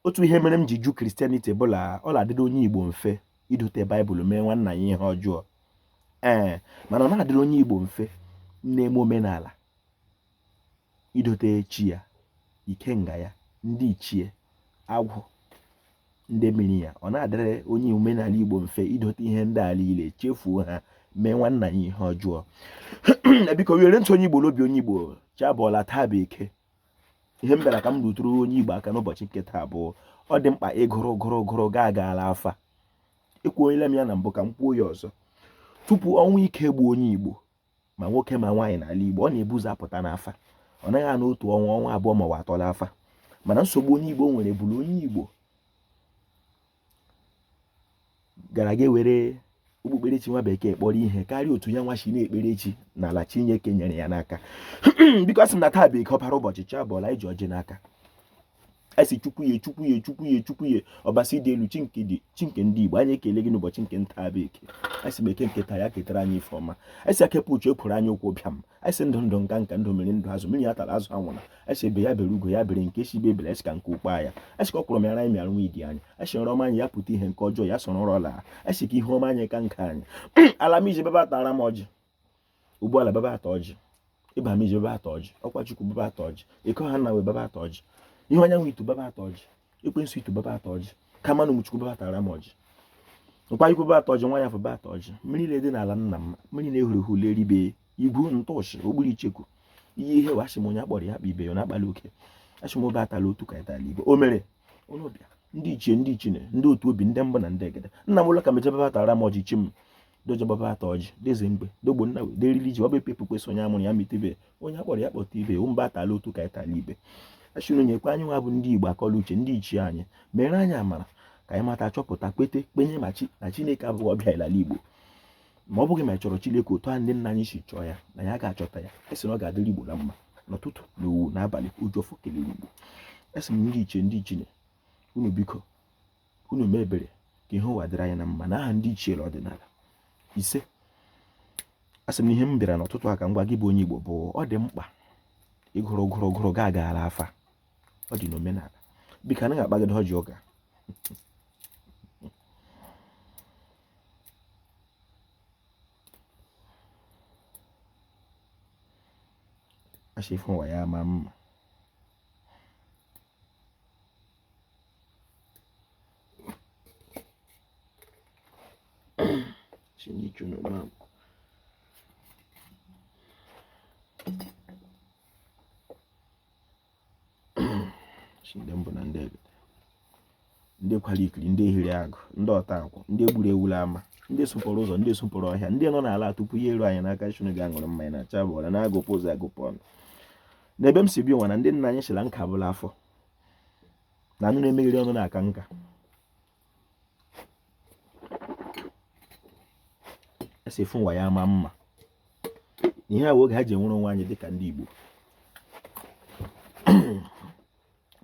otu ihe mere m ji jụ christianity bụ na ọ na-adịrị onye igbo mfe idote baịbụl mee nwanna ya ihe ọjọọ ee mana ọ naghị adịrị onye igbo mfe na-eme omenala idote chi ya ikenga ya ndị ichie agwụ ndị mmiri ya ọ naghị adịrị onye omenala igbo mfe idote ihe ndị a niile chefuo ha mee nwanna ya ihe ọjọọ biko were ntụ onye igbo n'obi onye igbo chi abọọla taa bụ eke ihe m bịara ka m rụtụrụ onye Igbo aka n'ụbọchị nke taa bụ ọ dị mkpa ị gụrụ gụrụ gụrụ gaa gaala afa ekwuola m ya na mbụ ka m kwuo ya ọzọ tupu ọnwụ ike gbuo onye Igbo ma nwoke ma nwaanyị n'ala Igbo ọ na-ebu ụzọ apụta n'afa ọ naghị anọ otu ọnwa ọnwa abụọ ma ọnwa atọ la afa mana nsogbu onye Igbo nwere bụ la onye Igbo gara gaa were okpukperechi nwa bekee kpọrọ ihe karịa otu ya nwa si na-ekpere chi n'ala Chineke nyere ya n'aka biko asị m na taa bụ eke ọkpara ụbọchị chi abọọla anyị ji ọjị n'aka asị chukwu ya chukwu ya chukwu ya chukwu ya ọbasi dị n'elu chi nke dị chi nke ndị Igbo anyị ekele gị n'ụbọchị nke taa bụ eke asị m eke nke taa ya ketara anyị ife ọma asị akepụ uche ekwuru anyị ụkwụ bịa m anyị sị ndụ ndụ nka nka ndụ mmiri ndụ azụ mmiri atala azụ anwụna anyị sị egbe ya bere ugo ya bere nke sị ibe ebela anyị ka nku kwaa ya anyị ka ọkwụrụ mịara anyị mịara nwunye di anyị anyị sị ọma anyị ya pụta ihe nke ọjọọ ya sọrọ ọrụ ọla anyị sị ka ihe ọma anyị ka nke anyị ala m iji bịa bịa tara m ọjị ụgbọala bịa bịa taa ọjị ịba m iji bịa bịa taa ọjị ọkwa chukwu bịa bịa taa ọjị ịkọ ha na wee bịa bịa taa ọjị ihe onye nwe itu bịa bịa taa ọjị ekwensu itu bịa bịa taa ọjị kamanụ mụ chukwu bịa bịa tara m ọjị nkwa ikwu bịa bịa taa ọjị nwa ya fụ bịa bịa taa ọjị mmiri niile dị n'ala nna m mmiri na-ehuru ehu leribe igwu ntụọchị ogburu icheku ihe ihe wee asị m onye a kpọrọ ya kpọọ ibe ya na-akpali oke asị m obe atala otu ka ịtala ibe o mere onye ọbịa ndị ichie ndị ichie ndị otu obi ndị mbụ na ndị egede nna m ụlọ ka mejebe bịa bịa tara m ọjị chi m dojegbaba taa ọjị dee eze mgbe dee ogbonna wee deriri ji ọba epepu kwesị onye a mụrụ ya mụta ibe onye a kpọrọ ya kpọta ibe mba atala otu ka ịtala ibe achụrụ nyekwa anyị nwa bụ ndị igbo akọ la uche ndị ichie anyị mere anyị amara ka anyị mata chọpụta kwete kwenye na chi na chineke abụghị ọbịa n'ala igbo ma ọ bụghị ma ị chọrọ chineke otu a ndị nna anyị si chọọ ya na anyị ga-achọta ya asị na ọ ga-adịrị igbo na mma n'ụtụtụ na owu n'abalị eji ọfọ kelere igbo asị m ndị ichie ndị ichie unu biko unu mee ebere ka ihe ụwa dịrị anyị na mma na aha ndị ichie na ọdịnala isee a sị m ihe m bịara n'ụtụtụ a ka m gwa gị bụ onye Igbo bụ ọ dị mkpa ị gụrụ gụrụ gụrụ gaa gaala afa ọ dị n'omenala biko anaghị akpagide ọjị ọga achịfụ ụwa ya ma mma Sinicho na mama. Sị nde mbụ na ndị ebe. Ndị kwara ikiri, ndị hiri agụ, ndị ọta akwụ, ndị gburu ewu l'ama, ndị sụpụrụ ụzọ, ndị sụpụrụ ọhịa, ndị nọ n'ala tupu ya eru anyị n'aka Chineke ga-aṅụrụ mmanya na acha bụ ọra na-agụpụ ụzọ agụpụ ọnụ. N'ebe m si bịa ụwa na ndị nna anyị sị la nka bụ l'afọ. na anụ na-emegheri ọnụ na-aka nka esi efu ụwa ya ama mma ihe a oge ha ji enwere onwe anyị dịka ndị Igbo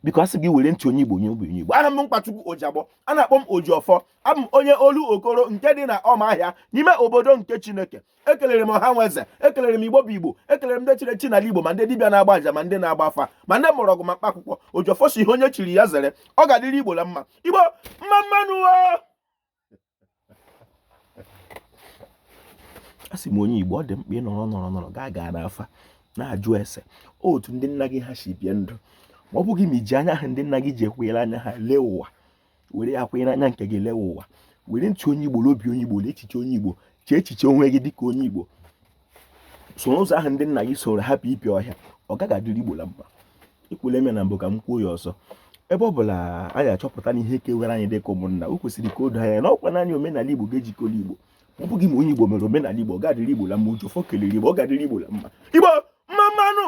biko asị gị were ntị onye Igbo onye obi onye Igbo aha m bụ mkpachukwu ojiagbọ a na-akpọ m ojiọfọ abụ m onye olu okoro nke dị na ọma ahịa n'ime obodo nke Chineke ekelere m ọha nwe eze ekelere m igbo bụ igbo ekelere m ndị chiri echi n'ala igbo ma ndị dibịa na-agba aja ma ndị na-agba afa ma ndị mgbọrọgwụ ma mkpa akwụkwọ ojiọfọ sị ihe onye chiri ya zere ọ ga-adịrị igbo na mma igbo mma mmanụ a sị m onye igbo ọ dị mkpa ịnọrọ nọrọ nọrọ gaa gaa n'afa na-ajụ ese otu ndị nna gị ha si bie ndụ ma ọ bụghị ma iji anya ahụ ndị nna gị ji ekwunyere anya ha lee ụwa were ya kwanyere anya nke gị lewe ụwa were ntị onye igbo n'obi onye igbo na echiche onye igbo chee echiche onwe gị dịka onye igbo so n'ụzọ ahụ ndị nna gị soro hapụ ịpịọ ọhịa ọ gaghị adịrị igbo na mma ekwule m ya na mbụ ka m kwuo ya ọzọ ebe ọ bụla anyị achọpụta na ihe kewere anyị dịka ụmụnna o kwesịrị ka o doo anya na ọkwa naanị omenala igbo ga-ejikọrọ igbo ọ bụghị ma onye igbo mere omenala igbo ọ gaghị adịrị igbo na mma ojiọfọ kelere igbo ọ ga-adịrị igbo na mma igbo mma mmanụ